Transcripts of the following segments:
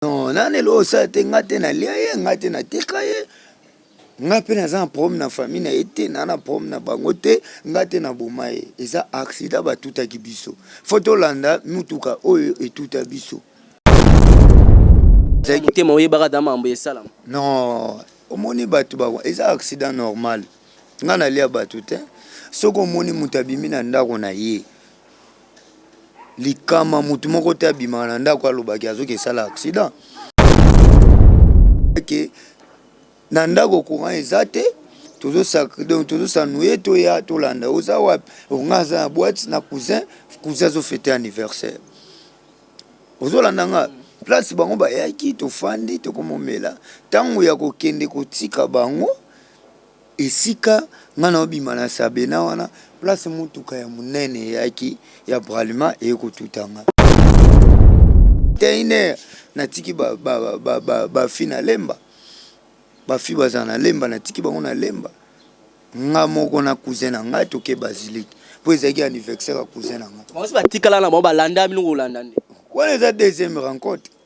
Non, na lelo oyo sala te nga te na lia ye nga te na tika ye nga mpe naza na problème na famille na ye te na na problème na bango te nga te na boma ye eza accident batutaki biso fo tolanda mutuka oyo etuta biso motema oyebaka ata mambo esalama non omoni bato bango eza accident normal nga nalia bato te soki omoni moto abimi na ndako na ye likama mutu moko te abimaka na ndako aloba ke azoki esala accident ke na ndako courant eza te donc tozosanue toya tolanda oza wapi onga aza na boite na cousin cousin azofete anniversaire ozolanda nga place bango bayaki tofandi tokomomela ntango ya kokende kotika bango Esika nga nao bima na sabena wana place mutuka ya munene eyaki ya bralima eye ko tuta nga. Tein heure na tiki ba ba ba ba ba fille na lemba ba fille bazala na lemba na tiki bango na lemba nga moko na cousin na nga toke basilique po ezalaki anivexer ya cousin na nga. Bango si ba tikala na bango ba landa bino ko landa nde. Wana eza deuxième rencontre.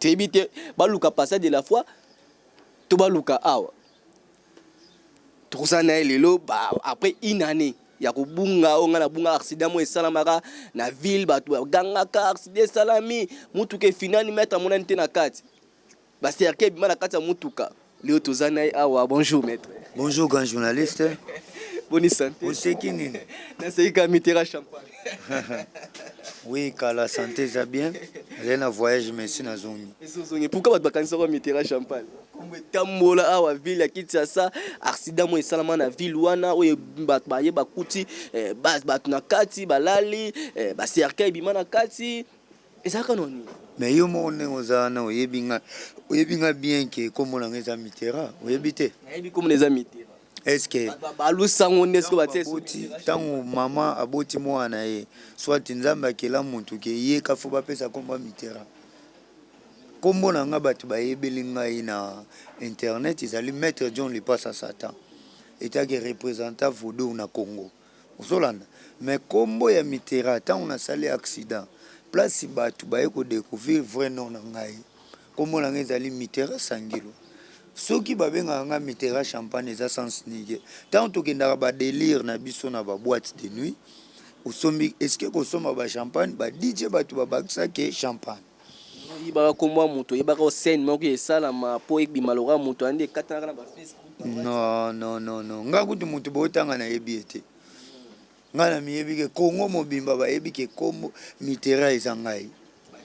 toyebi te baluka passage de la foi to baluka awa tokozala na ye lelo après une année ya kobunga oyo ngai nabunga accident moko esalamaka na ville bato bagangaka accident esalami motuka efinani maître amonani te na kati Ba cercueil ebima na kati ya mutuka. Leo toza na ye awa. Bonjour maitre. Bonjour grand journaliste. Boni sante. Oseki nini? Naseki ka mitera champagne. oui kala sante eza bien. Nazali na voyage mais si nazongi. Esi ozongi. Pourquoi bato bakanisa kwa mitera champagne? Kombo etambola awa ville ya Kinshasa. Accident mo esalama na ville wana oyo bato baye bakuti eh, bato na kati balali eh, ba cercueil ebima na kati. Eza kaka na nini? Mais yo moko ndenge oza wana oyebi nga oyebi nga bien que kombo na nga eza Mitterrand oyebi te? Nayebi kombo na eza Mitterrand. Est ce que balusa ngo nde soki batie aboti tango maman aboti mwana na ye soit Nzambe akela mutu que ye ka faut bapesa kombo ya Mitterrand? Kombo na nga batu bayebeli ngai na internet ezali Maitre John Lipasa Satan etant que representant Vodou na Congo. ozolanda mais kombo ya Mitterrand tango na sali accident place batu baye ko decouvrir vrai nom na ngai kombo na ngai ezali Mitterrand Sangilo soki ba bengaka ngai Mitterrand Champagne eza sens nige tango tokendaka ba delire na biso na ba boite de nuit osombi esike kosomba ba champagne ba DJ batu ba bakisa ke champagne Oyebaka kombo ya moto oyebaka o scène moko esalama po ebima lokola moto wana nde ekatanaka na ba Facebook na WhatsApp. Non non non non nga kutu mutu botanga nayebi ye te nga na miyebi ke congo mobimba bayebi ke kombo mitera eza ngai.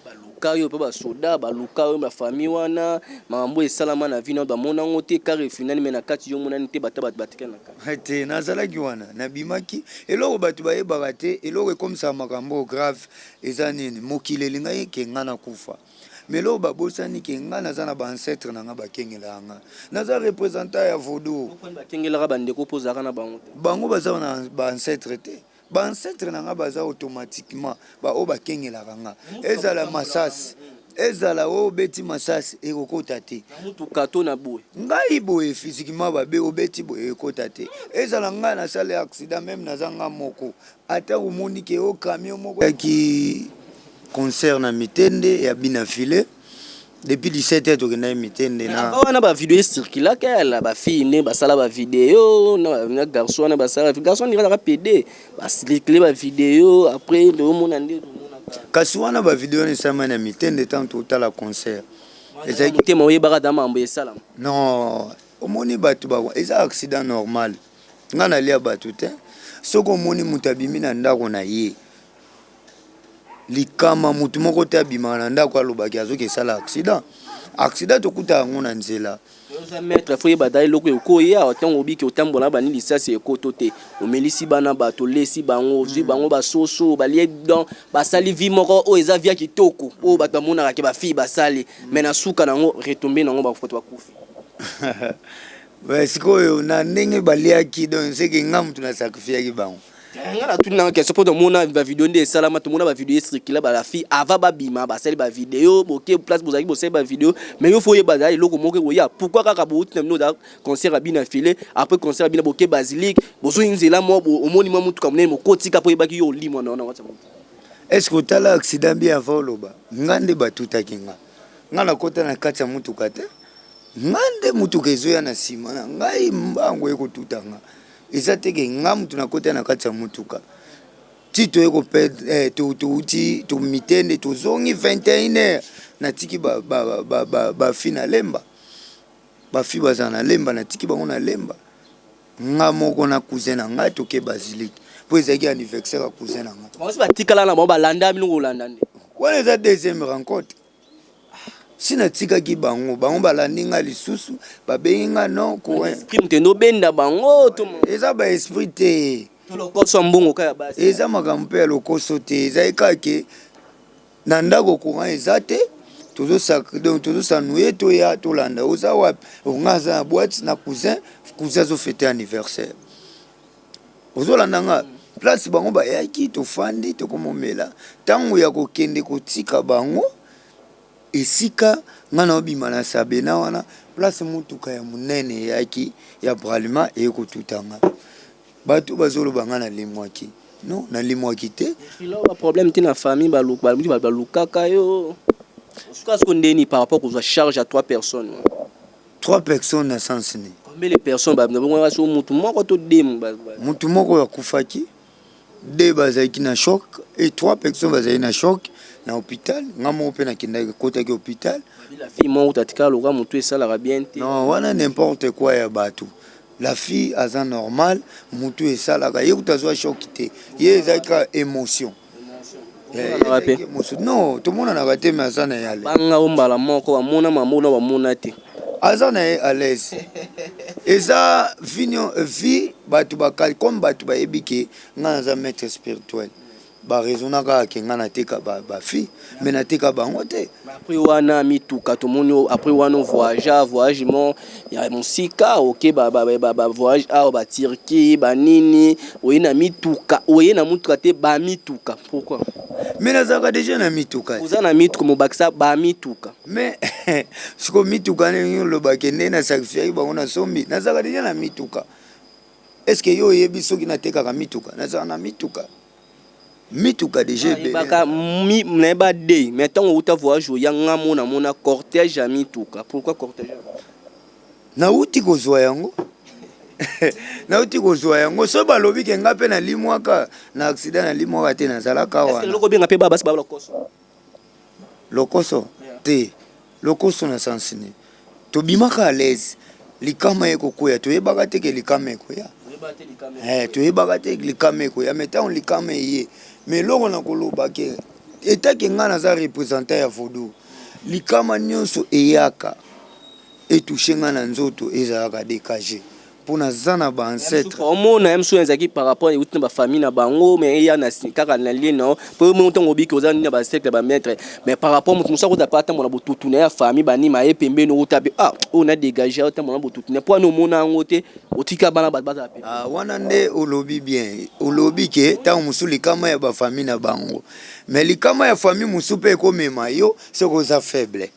Baluka yo epa ba soda baluka yo na famille wana makambo esalama na vie na yo bamona ngo te car efindani mais na kati yo omonani te bata batu batikali na kati. He te nazalaki wana nabimaki eloko batu bayebaka te eloko ekomisaka makambo oyo grave Eza nini? Mokili elingaki ke nga na kufa mais lelo ba bosani ke nga naza na ba ancetres na nga ba kengelaka nga. Naza representant ya vodou. Yo kani ba kengelaka ba ndeko po ozalaka na bango te? Bango baza na ba ancetres te? Ba ancetres na nga baza automatiquement ba oyo ba kengelaka nga. Ezala masasi, ezala oyo obeti masasi eko kota te. Na mutuka to na boye? Ngai boye physiquement ba obeti boye ekota te. Ezala nga na sali accident meme naza nga moko. Ata omoni ke o camion moko ya ki concert na mitende ya bina file depuis 17 heures tokendaki mitende na Avant wana ba video e circulaka na ba fille nde ba sala ba video na garçon wana ba sala garçon on dirait aza pede ba circuler ba video après tozo mona nde tozo mona kaka Kasi wana ba video wana esalemaki na mitende tango totala concert ezalaki motema oyebaka ata mambo esalama? Non omoni batu ba eza accident normal. Nga nalia batu te soki omoni mutu abimi na ndako na ye likama mutu moko te abimaka na ndako alobaki azoki esala accident accident tokuta yango na nzela maître faut yeba dai loko ekoye awa tango obiki otambola na bani lisasi ekoto te omelisi bana bato lesi bango ozwi bango basoso balie donc basali vie moko oyo eza via kitoko oyo bato bamonaka ke bafille basali mais na suka na yango retombe na yango bato bakufi Mais sikoyo na ndenge baliaki donc seke nga mutu na sacrifiaki bango eh, nga na tuni nanga question po tomona ba video nde esalama tomona ba video esirkila ba la fille avant babima basali ba video boke place bozalaki bosali ba video mais yo fo oyeba za eloko moko ekoya pourquoi kaka bouti na bino oza concert ya bina file après concert ya bina boke basilique bozoi nzela mo omoni mwa motuka monene mokotika po oyebaki yo olimwa na wana whatsapp est ce que otala accident bien avant oloba nga nde batutaki nga Nga na kota na kati ya mutuka te nga nde mutuka ezoya na sima na ngai mbangu eko tuta nga eza te ke nga mutu na kota na kati ya mutuka ti toye ko perdre eh, to to uti to mitende to zongi 21 heures na tiki ba ba ba ba, ba fi na lemba ba fi baza na lemba na tiki bango na lemba Nga moko na cousin na ngai toke basilique po ezalaki anniversaire ya cousin na ngai. Bango si batikala na bango balanda bino kolanda nde. Wana eza deuxième rencontre. Si natikaki bango, bango balandi nga lisusu, babengi nga non ko. Esprit mutende obenda bango to. Eza ba esprit te. To lokoso ya mbongo ka ya basi. Eza makambo pe ya lokoso te, ezali kaka ke Na ndako courant eza te tozo sacre donc tozo s'ennuyer toya tolanda yo oza wapi oh nga naza na boite na cousin cousin azo fete anniversaire ozolanda nga place bango bayaki tofandi tokomomela ntango ya kokende kotika bango esika nga naobima na sabena wana place motuka ya monene eyaki ya bralima eye kotuta nga Batu bazo loba nga na lemwaki non na lemwaki te. Depuis lors ba problème ti na famille ba lukaka yo o suka sikoyo ndeni par rapport kozua charge ya trois personnes wana? Trois personnes na sens nini? Combien de personnes ba bengana sikoyo mutu moko to deux mutu ba ba. Mutu moko a kufaki, deux ba zalaki na choc et trois personnes ba zalaki na choc na hopital nga moko pe na kendaki na kotaki hopital. Ba bela fille moko kutu atikala lokola mutu esalaka bien te. Non wana n'importe quoi ya batu. La fille aza normal mutu esalaka ye kutu azua choc te ye ezalaki kaka emotion no tomonanaka te me aza na ye ale banga o mbala moko bamona mamona bamona te aza na ye alaise eza vie bato bakali comme bato bayebi ke ngai naza maître spirituel Ba raisonna kaka que nga na teka ba fille mais na teka bango te. Mais après wana mituka to moni yo après wana o voyagea voyage moko ya musika oke ba ba voyage awa ba Turquie ba nini oye na mituka oye na mutuka te ba mituka pourquoi? Mais nazalaka dejà na mituka te. Oza na mituka mais obakisa ba mituka. Mais sikoyo mituka ndenge olobaki ndenge na sacrifiaki bango na sombi nazalaka dejà na mituka. Est-ce que yo oyebi soki natekaka mituka? Nazala na mituka. Mituka deja ebele. Baka mi na ba de mais tango uta voyage oya nga mona mona cortège ya mituka. Pourquoi cortège? Na uti kozwa yango. nauti kozwa yango soki balobi ke nga mpe nalimwaka na accident nalimwaka te nazalaka wana eloko obenga mpe babasi babala koso lokoso te lokoso na sens nini tobimaka à l'aise likama ekokweya toyebaka te ke likama ekweya eh, toyebaka te likama ekweya mais ntango likama eye mais eloko na koloba ke etake ngai naza représentant ya vodou likama nyonso eyaka etushe ngai na nzoto ezalaka dekage po naza na ba ancetre omona ya misusu ezalaki par rapport euti na bafamille na bango mais eya na kaka na lie nao po yo moko ntango obiki oza nini na bacercle ya bamaitre mais par rapport moto mosusu akota mpe atambola botutu na ya famille banima ye pembeni ota mpe ah oyo na dégage atambola na botutu na po ani omona yango te otika bana bato bazala mpe ah, wana nde olobi bien olobi ke ntango mosusu likama ya bafamille na bango mais likama ya famille mosusu mpe ekomema yo soki oza faible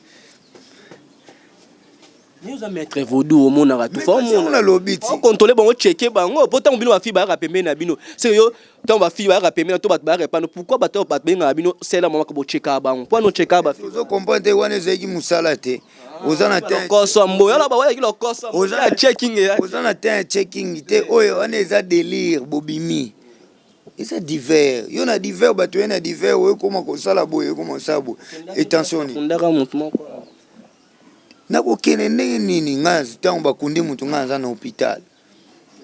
Yo oza maître vaudou omonaka tout faut mon na lobi ti contrôler bango checker bango po tango bino ba fille bayaka pembeni na bino c'est yo tango ba fille bayaka pembeni to bato bayaka pano pourquoi bato bato bengaka bino sela mama bo checker bango po no checker ba fille ozo comprendre te wana ezalaki musala te oza na teint koso mbo yala ba wala kilo koso oza na checking ya oza na teint checking te oyo wana eza délire bobimi eza divers yo na divers bato ye na divers oyo ekoma kosala boye ekoma kosala boye etensioni ondaka motu moko Nakokende ndenge nini nga tango bakundi mutu nga naza na hopital.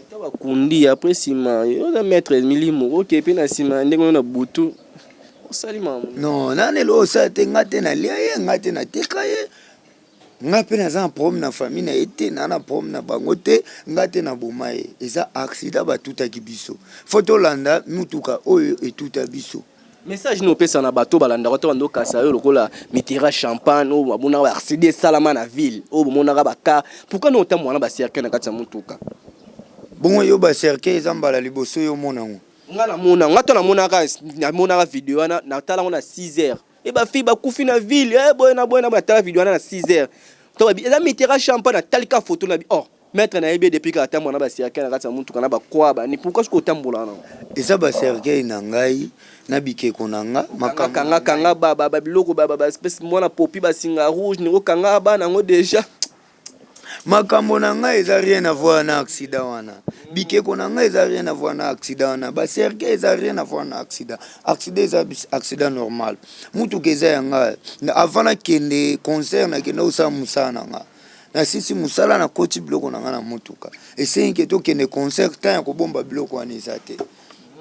Ata bakundi ye apres sima yo oza maitre ya milimo oke pe na sima ya ndenge oyo na butu osali makambo nini? Non naza na eloko osala te nga te nalia ye nga te nateka ye nga pe naza na problème na famille na ye te naza na problème na bango te nga te na boma ye eza accident batutaki biso faut tolanda mutuka oyo etuta biso. Message nini opesa na bato balandaka yo to bando kasa yo lokola Mitterrand champagne oyo bamonaka ba accident esalama na ville oyo bomonaka ba car pourquoi no otambola na ba cercueil na kati ya motuka? Bongo yo ba cercueil eza mbala liboso yo omona yango? Nga na mona nga to na monaka na monaka video wana na tala ngo na 6 heures et ba fille ba kufi na ville eh boye na boye na boye na tala video wana na 6 heures to ba bi eza Mitterrand champagne na tali ka photo na bi oh. Maitre na yebi ye depuis kala atambola na ba cercueil na kati ya mutuka na ba croix ba nini pourquoi soki otambola na Eza ba cercueil na ngai na bikeko na nga makambo kanga na kanga ngai. kanga ba biloko ba ba espèce mwana popi ba singa rouge na ngo kanga ba na ngo dejà. Makambo na nga eza rien à voir na accident wana bikeko na nga eza rien à voir na accident wana ba cercueil eza rien à voir na accident accident eza accident normal mutuka eza ya nga avant na kende concert na kende osala musala na nga. nasilisi mosala nakoti biloko na ngai na motuka esengi ke tokende concert temps ya kobomba biloko wana eza te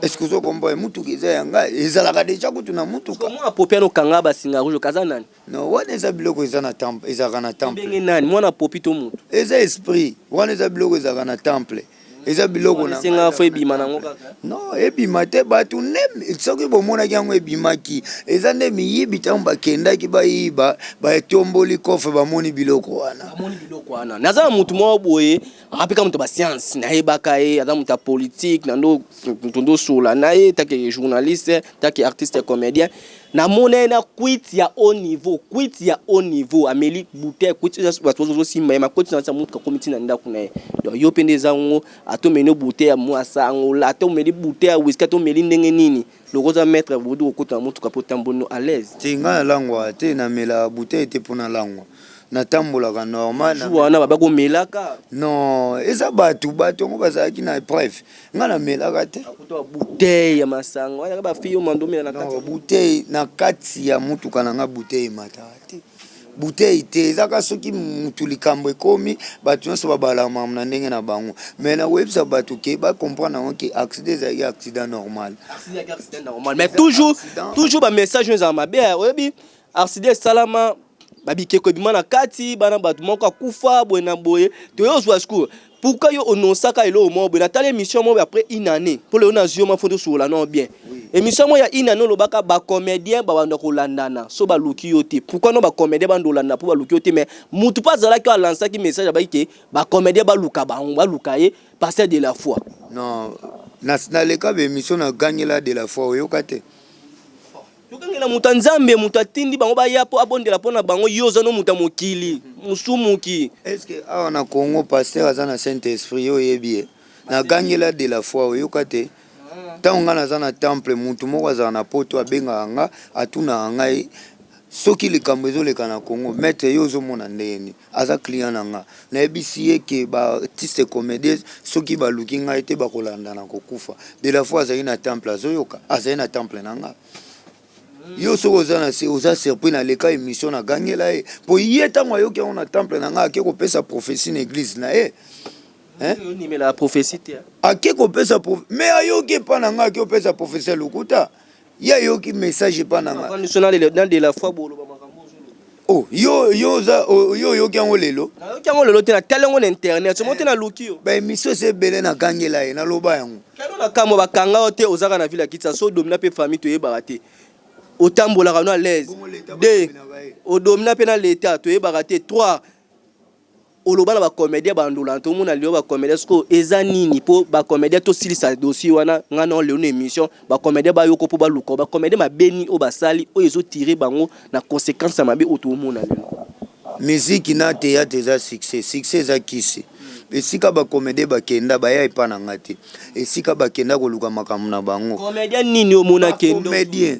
est-ce que ozokomboye motuka eza ya ngai ezalaka deja kutu na motuka mwana popi ana okanga basinga rouge okaza nani no wana eza biloko eza na temple ezalaka na temple ndenge nani mwana popi to motu eza esprit wana eza biloko ezalaka na temple eza biloko na senga fo ebima nango kaka non ebima te bato nde soki bomonaki yango ebimaki eza nde miyibi ntango bakendaki bayiba batomboli kofre bamoni biloko wana bamoni biloko wana naza na motu moko boye apika moto basianse nayebaka ye aza moto ya politike nando moto ndosola na ye take journaliste take artiste comédien Na mona ye na kwiti ya haut niveau, kwiti ya haut niveau, ameli bouteille, kwiti oyo batu ozo simba ye, makoti na kati ya mutuka akomi ti na ndaku na ye. Donc yo pe nde eza ngo, ata omeli yo bouteille ya mua sango, ata omeli bouteille ya whisky, ata omeli ndenge nini, lokola oza maitre bobo du kokota na mutuka pe otamboli no à l'aise. Te, nga na langwaka te, na melaka bouteille te po na langwa, na tambolaka normal. Jour wana ba baki omelaka? Non, eza batu, batu yango bazalaki na epreuve, nga na melaka te akuta bouteille ya masanga wana ba fille mando mela na kati bouteille na kati ya mutuka na nga bouteille mata te bouteille te ezaka soki mutu likambo ekomi bato nyonso babala mamu na ndenge na bango me na koyebisa bato ke ba comprendre yango ke accident ezalaki accident normal mais toujours toujours ba message oyo ezala mabe oyebi Arsidi esalama babikeko ebima na kati bana bato moko akufa boye na boye toye ozwa sikoyo pourquoi yo onosaka eloko moko boye natali émission moko après une année mpo lelo nazwi yo mwa fo tosukola nao bien émission moko ya une année olobaka bacomédien babanda kolandana so baluki yo te pourquoi no bacomédien banda olandana mpo baluki yo te mais motu mpe azalaki oyo alansaki message abaki ke bacomédien baluka bango baluka ye pasteur de la foi non naleka baémission nagangela de la foi oyoka te Tokengela moto ya Nzambe, moto atindi bango baya mpo abondela mpo na bango. Yo oza no moto ya mokili, mosumuki. Est-ce que awa na Congo pasteur aza na Saint Esprit? Yo oyebi ye? Na gangela de la foi oyoka te? Tango nga naza na temple mutu moko azala na poto abengaka nga atunaka ngai soki likambo ezoleka na Congo maitre yo ozomona ndenge nini? Aza client na nga nayebisi ye que ba artistes comedies soki baluki ngai te bakolanda na kokufa. De la foi azali na temple azoyoka azali na temple na nga. Yo soki oza na se oza surpris na leka emission na gangela ye po ye tango ayoki yango na temple na nga ake kopesa prophetie na eglise na ye. Ake kopesa me ayoki epa na nga ake kopesa prophetie ya lokuta. Ye ayoki message epa na nga. Avandi so na lelo na de la foi boloba makambo ozo loba. Oh yo yo oza o- yo oyoki yango lelo? Na yoki yango lelo te na tali yango na internet. Somo te na luki yo. Ba emission esi ebele na gangela ye na loba yango. Kano na kamwa ba kanga yo te ozaka na ville ya Kitsasa o domina pe famille to yebaka te. O tambolaka no à l'aise. Bongo l'etat ba Deux domina ba ye? O domina pe na l'etat to yebaka te. Trois. Oloba na ba comedien ba ndula to mona lelo ba comedien siko eza nini po ba comedien to silisa dossier wana nga na lelo na emission ba comedien ba yoko po ba luka ba comedien ma beni o ba sali o ezo tire bango na consequence ya mabe oto mona lelo. Musique na theatre eza succès succès eza kisi esika ba comedien ba kenda ba ya epa na nga te esika ba kenda ko luka makambo na bango comedien nini o mona kendo comedien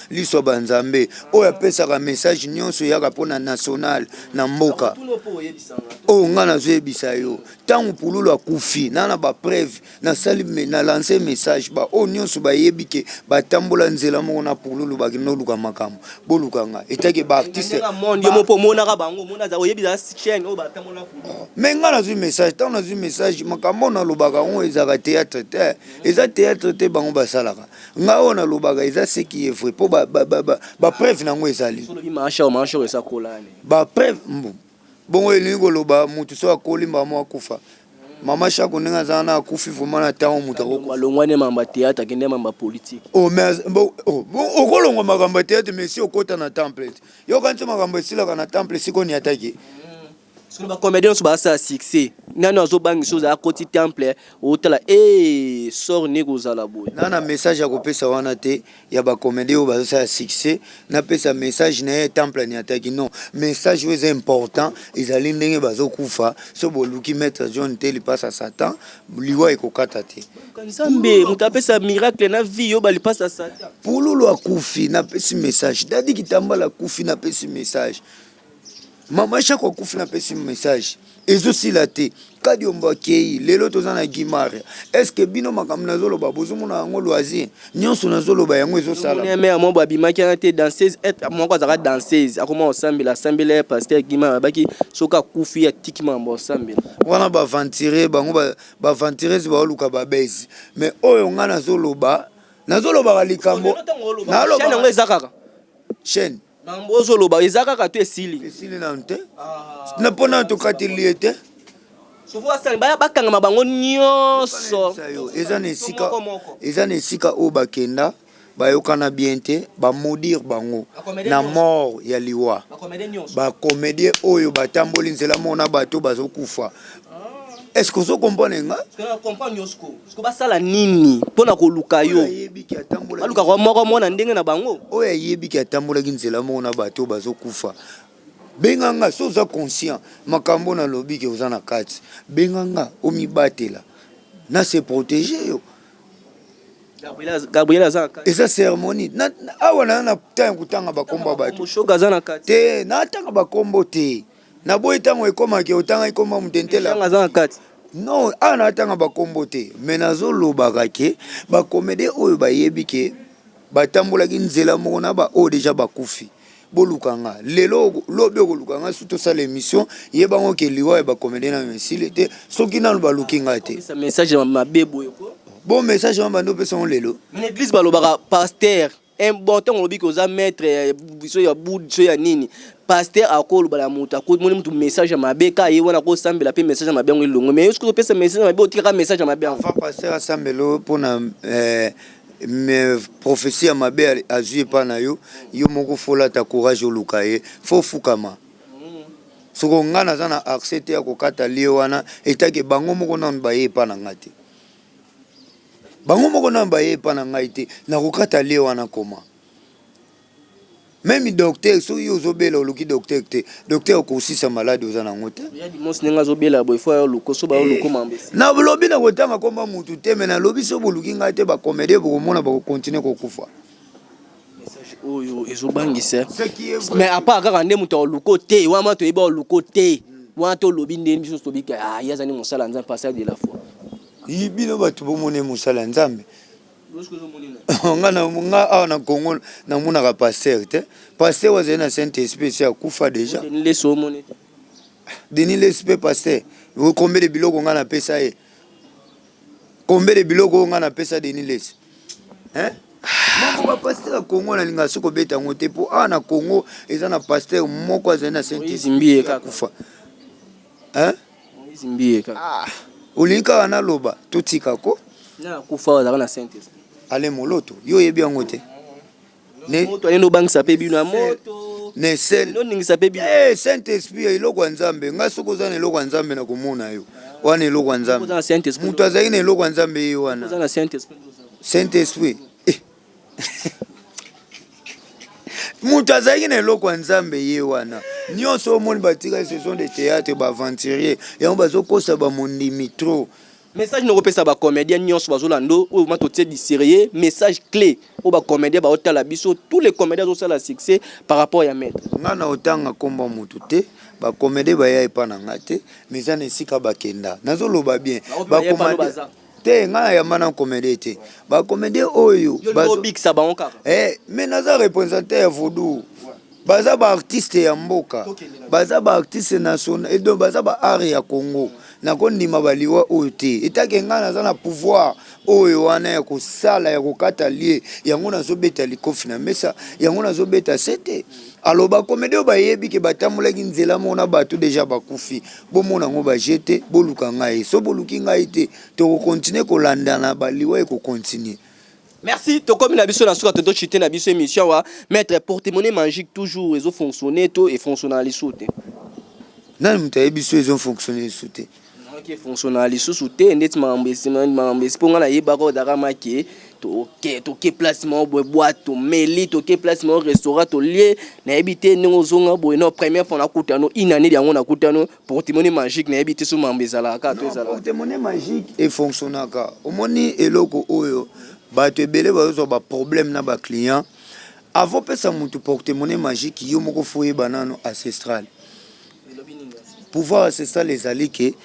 Liso ya ba nzambe oyo apesaka message nionso eyaka pona national na mboka oyo nga nazoyebisa yo ntango pululu akufi na na ba preuve nasali na lance message ba oyo nionso bayebi ke batambola nzela moko na pululu bakende oluka makambo boluka nga etake ba artiste me nga nazwi message ntango nazwi message makambo oyo nalobaka yango ezalaka théâtre te eza théâtre te bango basalaka nga oyo nalobaka eza ce qui est vrai mpo bapreuve na yango ezali bapreuve bongo elingi koloba motu so akoli mbala moko akufa mama shako ndenge aza wana akufi vraimen na ntango moto akokolongwane mambo ya teatre akende mambo ya politike oh, oh, okolongwa makambo ya teatre mais si okota na temple te yokanisi makambo esilaka na temple esika oniataki Sikoyo ba comediens nyonso bazasala succès nani azobangisa oza akoti temple otala ee sor nde kozala boye na na message ya kopesa wana te ya ba comedien oyo bazosala succès napesa message na ye temple aniataki non message oyo eza important ezali ndenge bazokufa so boluki maître john te lipasa satan liwa ekokata te nzambe moto apesa miracle na vie yo balipasa satan pululu akufi napesi message dadi kitambala akufi napesi message mama shako akufi na pesi message ezosila te kadiombo akei lelo toza na gimare estce bino makambo nazoloba bozomona yango loisir nyonso nazoloba yango ezosalamea moko abimaki wana te danseuse moko azalaka danseuse akoma kosambela asambela ya paster gimare abaki soki akufi atiki makambo kosambela wana baventire bango baventires baoluka babezi mais oyo ngai nazoloba nazolobaka likambo yango eza kaka chaine Mambo ozo loba eza kaka to esili? Esili nanu te. Na pona na tokateli ye te. Bakangama bango nionso. Eza na esika eza na esika oyo bakenda bayokana bien te ba maudire bango na mort ya liwa ba comedien oyo batamboli nzela mona bato bazokufa est ce que ozo comprendre nga basala nini mpo na koluka yo baluka kwa moko mwana ndenge na bango oyo ayebi ke atambolaki nzela moko na bato oyo bazokufa benga nga so oza conscient makambo nalobi ke oza na kati benga nga omibatela na se protege yo gabriel aza eza cérémonie awa naza na temps ya kotanga bakombo ya bato te natanga bakombo te Na boyi tango ekoma ke otangaki kombo ya moto intello Michanga aza na kati. Non awa na tanga ba kombo te mais nazo lobaka ke ba comedien oyo ba yebi ke ba tambolaki nzela moko na ba oyo deja ba kufi bo luka nga lelo lobi oko luka nga soki to sala emission yeba ngo ke liwa ya ba comedien nanu esili te soki nanu ba luki nga te Sa message mabe boye ko. bon message wana banda opesa ngo lelo? Mais na eglise ba lobaka pasteur. Important olobi ke oza maitre ya biso ya bud biso ya nini pasteur ako loba na mutu ako moni mutu message ya mabe ka ye wana ko sambela pe message ya mabe ngo elongo mais yo sikoyo pesa message ya mabe otika ka message ya mabe ngo avant pasteur asambelo pona eh, mais prophetie ya mabe azui epa na yo yo moko folata courage oluka ye fo fukama soko ngai naza na accès te ya kokata lie wana etake bango moko nanu baye epa na ngai te bango moko nanu baye epa na ngai te nakokata lie wana koma meme docteur soki yo ozobela oluki docteur te docteur okosisa maladi oza nango te nalobi na kotanga komba mutu te me nalobi so boluki ngai te bakomedie bokomona bakokontinue kokufa Message oyo ezo bangisa mais apart kaka nde moto aoluka te wana ma toyebi aoluka te wana to lobi nde biso tobi ke ah ye aza nde mosala nzambe passage de la foi yi bino bato bomoni mosala nzambe nga na nga awa na Congo na monaka pasteur te pasteur wazali na saint esprit si akufa déjà Denis Lessi omoni te Denis Lessi pe pasteur okombele biloko nga na pesa ye Combien de biloko oyo nga na pesa Denis Lessi? Hein? moko ba pasteur ya congo nalingaka soki kobeta yango te mpo awa na congo eza na pasteur moko azali na saintkufa olingi kaka naloba totika ko ale moloto yo oyebi yango te Saint esprit ya eloko ya nzambe ngai soki oza na eloko ya nzambe na komona yo wana eloko ya nzambe moto azali na eloko ya nzambe ye wana saint esprit eh. moto azalaki na eloko ya nzambe ye wana nyonso omoni batika saison de théâtre baaventurier yango bazokosa bamondimi trop Message noko pesa ba comediens nionso bazo lando oyo vraiment to tie diserie message cle oyo ba comediens bao tala biso tous les comediens azo sala succès par rapport ya maitre. Nga nao tanga kombo ya mutu te ba comediens ba ya epa na nga te mais eza na esika ba kenda nazo loba bien ba comediens te nga na yamba na comediens te ba comediens oyo bazo bikisa bango kaka eh mais naza representer ya vodou baza ba artiste ya mboka baza ba artiste national edo baza ba art ya congo nakondima baliwa oyo te etake ngai naza na pouvoir oyo wana ya kosala ya kokata lie yango nazobeta likofi na mesa yango nazobeta sete aloba komedi oyo bayebi ke batambolaki nzela moko na bato deja bakufi bomona yango baje te boluka ngai so boluki ngai te tokokontinue kolandana baliwa ekokontinue Merci, tokomi na biso na suka toto chute na biso émission wa maître porte-monnaie magique toujours ezo fonctionner to et fonctionner na lisusu te. Nani moto ayebi so ezo fonctionner lisusu te? Naki fonctionner na lisusu te ndeti makambo esima makambo esi ponga na yeba ko daka make to ke to ke place mo boye boîte to meli to ke place mo restaurant to lie na yebi te ndenge ozonga boye non première fois na kutano une année yango na kutano Portemone magique nayebi te so mambo ezalaka kaka to ezalaka. Portemone magique e fonctionnaka. Omoni eloko oyo bato ebele bazozwa ba problème na ba clients. Avant pesa mutu portemone magique yo moko faut oyeba nano ancestral. Pouvoir ancestral ezali ke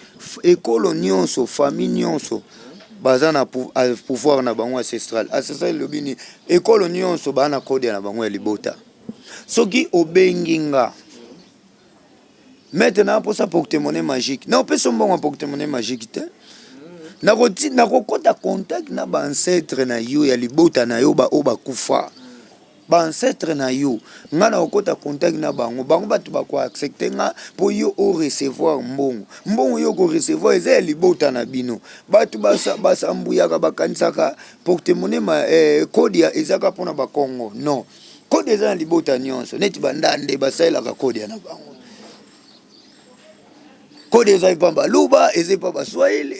ekolo nionso, famille nionso baza na pouvoir na bango ancestral. Ancestral elobi nini? Ekolo nionso ba na code na bango ya libota. Soki obengi nga Maître na posa porte-monnaie magique. Na opesa mbongo porte-monnaie magique te. Na ko na ko kota contact na ba ancêtre na yo ya libota na yo ba o ba kufa. Ba ancêtre na yo nga na okota contact na bango. Bango bato ba ko accepter nga po yo o recevoir mbongo. Mbongo yo ko recevoir eza ya libota na bino. Bato ba sa ba sambuyaka ba kanisaka porte-monnaie ma eh, code ya ezaka pona ba kongo. Non. Kodia eza na libota nyonso neti bandande basalelaka kodia na bango. kode eza epa baluba eza epa baswahili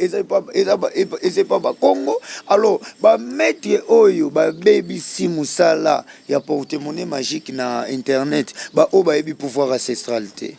eza epa bakongo alors bamaitre oyo babebisi mosala ya porte monnaie magique na internet baoyo bayebi pouvoir ancestral te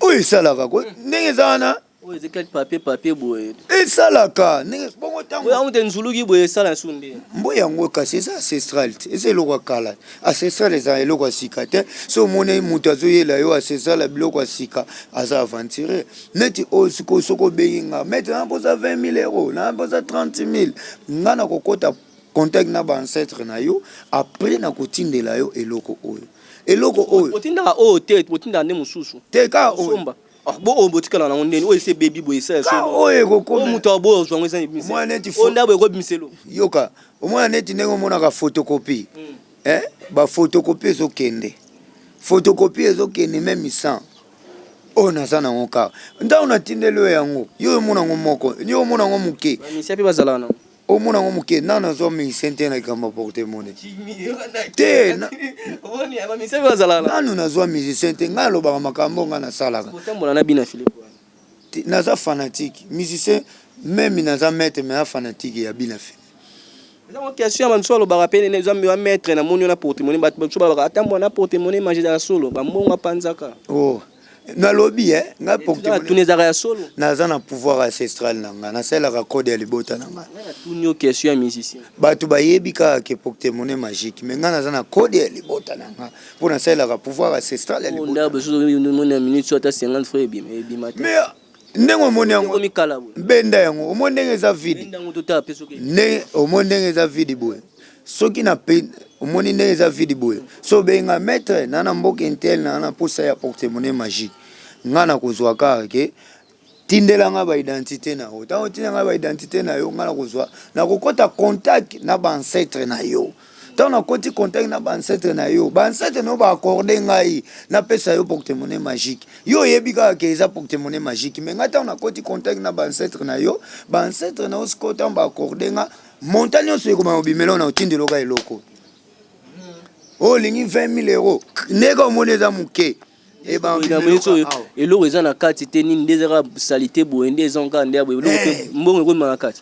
oyo esalaka ko ndenge eza wana Oyo eza kati papier papier boye. Esalaka ndenge bongo tango. Oyo amute nzuluki boye esala su nde. Mbo yango kasi eza ancestral te. Eza eloko ya kala. Ancestral eza eloko ya sika te. So omoni mutu azoyela yo ancestral ya biloko ya sika aza aventurier. Neti oyo siko soko obengi nga. Maître na posa 20000 euros, na posa 30000. Nga na kokota contact na ba ancêtre na yo après na kotindela yo eloko oyo. Eloko oyo. Otindaka oyo te, otindaka nde mosusu. Te ka oyo. Ah, bo oyo botikala nango ndeni oyo esi ebebi boye esala so ah, oyo ekokoma moto ya boyo ozwa yango eza ebimisa mwana neti oyo ndabo ekobimisa elo yoka omwana neti ndenge omonaka photocopie mm. eh ba photocopie ezokende photocopie ezokende meme sans oyo naza nango kaka ntango natindeli yo yango yo omona yango moko yo omona yango moke mpe bazalaka nango Omona yango moke nano azwa medicin te na likambo ya porte mone te nano nazwa musicien te ngai alobaka makambo ngai nasalaka naza fanatique musicien meme naza maître mais fanatique ya bina fini eza mwa question ya bamisu alobaka mpe nene zambi wa maître na moni yo na portemone bato bamisu balobaka ata mbwa na portemone maje ezala solo bambongo apanzaka o oh, nalobi eh, nga tuni ezaka ya solo naza na pouvoir ancestral na nga nasalelaka code ya libota na nga tuni yo question ya musicien bato bayebi kaka ke poktemone magique me nga naza na code ya libota na nga mpo nasalelaka pouvoir ancestral ya libota na nga. Ndabo, soki omoni na minute, soki ata 50 francs ebima, ebima te. Mais ndenge omoni yango benda yango omoni ndenge eza vide ndenge omoni ndenge eza vide boye soki na omoni ndenge eza vide boye so obengi nga maître na na mboka intel na na posa ya porte monnaie magique nga na kozwa kaka ke tindela nga ba identité na yo ntango otinda nga ba identité na yo nga na kozwa na kokota contact na ba ancêtre na yo Ntango nakoti contact na bancetre na yo, bancetre na yo ba accorde ngai napesa yo porte-monnaie magique. Yo oyebi kaka ke eza porte-monnaie magique, mais ngai ntango nakoti contact na bancetre na yo, bancetre na yo sikoyo ntango ba accorde nga montant nyonso ekobanda kobimela yo na otindela yo kaka eloko oyo olingi 20 000 euros, ndenge omoni eza moke eloko eza na kati te nini nde ezaka salite boye nde ezonka nde ya boye eloko te mbongo ekomema na kati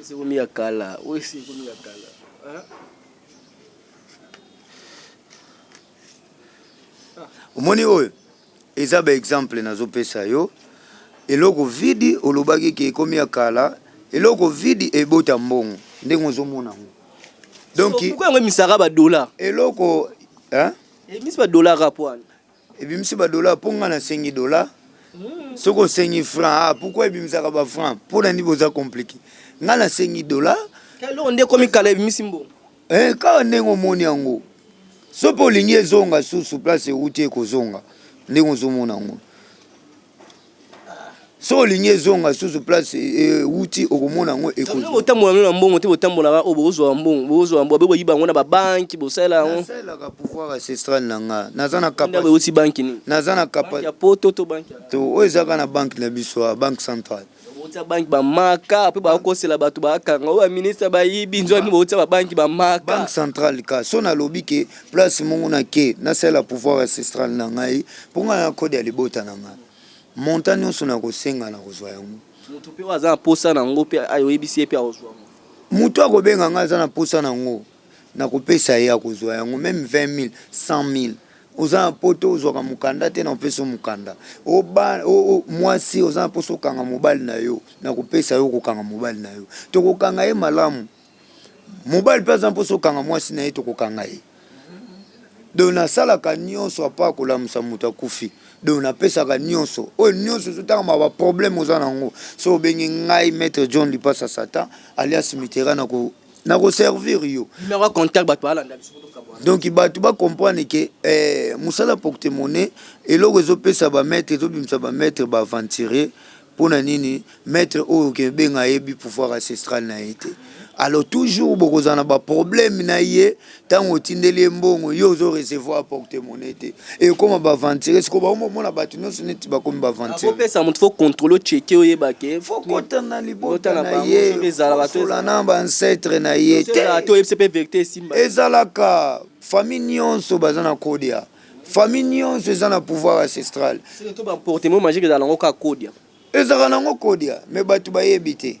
Esi ekomi ya kala. Oyo esi ekomi ya kala. omoni oyo eza ba exemple nazopesa yo eloko vidi olobaki ke ekomi ya kala eloko vidi ebota mbongo ndenge ozomona yango donc yango emisaka ba dollar eloko hein emisi ba dollar kaka po wana Ebimisi ba dollars po nga na sengi dollars soki osengi franc ah pourquoi ebimisaka ba franc pona nini boza complique nga na sengi dola eloko nde ekomi kala ebimisi mbongo eh, kaka ndenge omoni yango soki olingi ezonga susu place euti ekozonga ndenge ozomona yango soki olingi ezonga susu place ewuti okomona yango ekotambola no na mbongo te botambolaka oyo bokozwa mbongo bokozwa mbongo bokoyiba yango na babanki bosalela yangosalaka pouvoir ancestral na nga naza na kapeuti banki nini naza na kapa ya poto to banki to oyo ezalaka na banki na biso banque centrale Botia banki ba maka pe ba kosela bato ba kanga oyo ba ministre ba yibi nzwa mimi botia ba banki ba maka. Banque centrale ka so na lobi ke place mungu na ke na sala pouvoir ancestral na ngai po ngai na code ya libota na ngai montant nionso na kosenga na kozwa yango. Mutu pe oyo aza na posa na yango pe ayo yebisi ye pe akozwa yango. Mutu akobenga ngai aza na posa na yango. nakopesa ye akozua yango meme 20000 100000 oza na poto ozwaka mokanda te na kopesa yo mokanda mwasi oza na mposa okanga mobali na yo na kopesa yo kokanga mobali na yo tokokanga ye malamu mobali mpe aza mposa okanga mwasi na ye tokokanga ye donc nasalaka nyonso apa kolamusa moto akufi donc napesaka nyonso oyo nyonso ezotangama baproblème oza na yango so obengi ngai maître john lipasa satan alias mitera na ko nako servir yo numero ya contact batu balanda biso po tokabuana donc batu ba comprendre que eh, musala porte monnaie eloko ezo pesa ba maître ezo bimisa ba maître ba aventurier pona nini maître oyo ke benga ayebi pouvoir ancestral na ye te alors toujours bokozala na ba problème na ye Tango otindeli ye mbongo yo ozo recevoir porte monnaie te ekoma ba aventurier sikoyo bango bomona batu nionso neti bakomi ba aventurier. Kopesa mutu faut controle o checker oyeba ke faut kota na libota na ye solola na ba ancetre na ye te ezalaka famille nionso baza na kodia famille nionso eza na pouvoir ancestral ezalaka nango kodia mais batu bayebi te.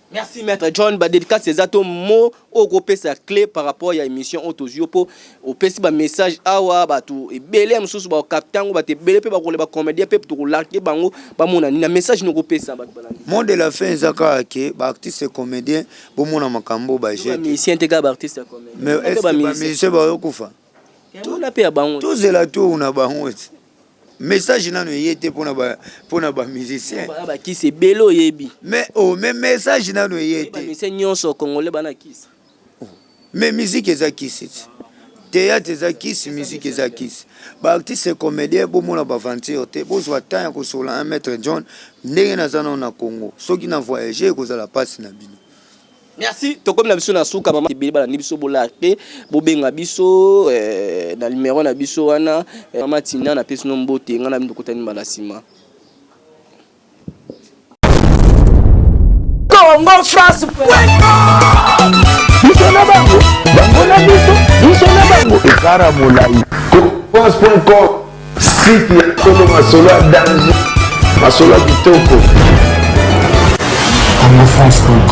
Merci maître John ba dedicace eza to mo oko pesa clé par rapport ya émission oyo tozwi po opesi ba message awa bato ebele ya mosusu ba capte yango bato ebele pe bakole ba comédien pe toko largue bango ba mona nini na message noko pesa bato balandi mot de la fin eza kaka ke ba artiste comédien bo mona makambo ba jeu ba musicien te kaka ba artiste comédien mais est ba musicien ba kufa tozela tour na bango message nano eye te mpona ba, mpona ba musicien ba kisi ebele oyebi mais oh, mais message nano eye te mise nyonso congolais bana kisi oh, mais musique eza kisi ti théâtre eza kisi musique eza kisi baartiste comédien bomona baventure te bozwa temps ya kosola un maître john ndenge naza nao na congo soki na voyage ekozala mpasi na bino Merci tokomi na biso na suka mama ebele balandi biso bolake bobenga biso eh, na numero na biso wana eh, mama Tina na pesi no mbote nga na bino tokutani mbala nsima Congo France biso na bango bango na biso biso na bango ekara molai france.com site ya kolo masolo ya danger masolo ya kitoko congofrance.com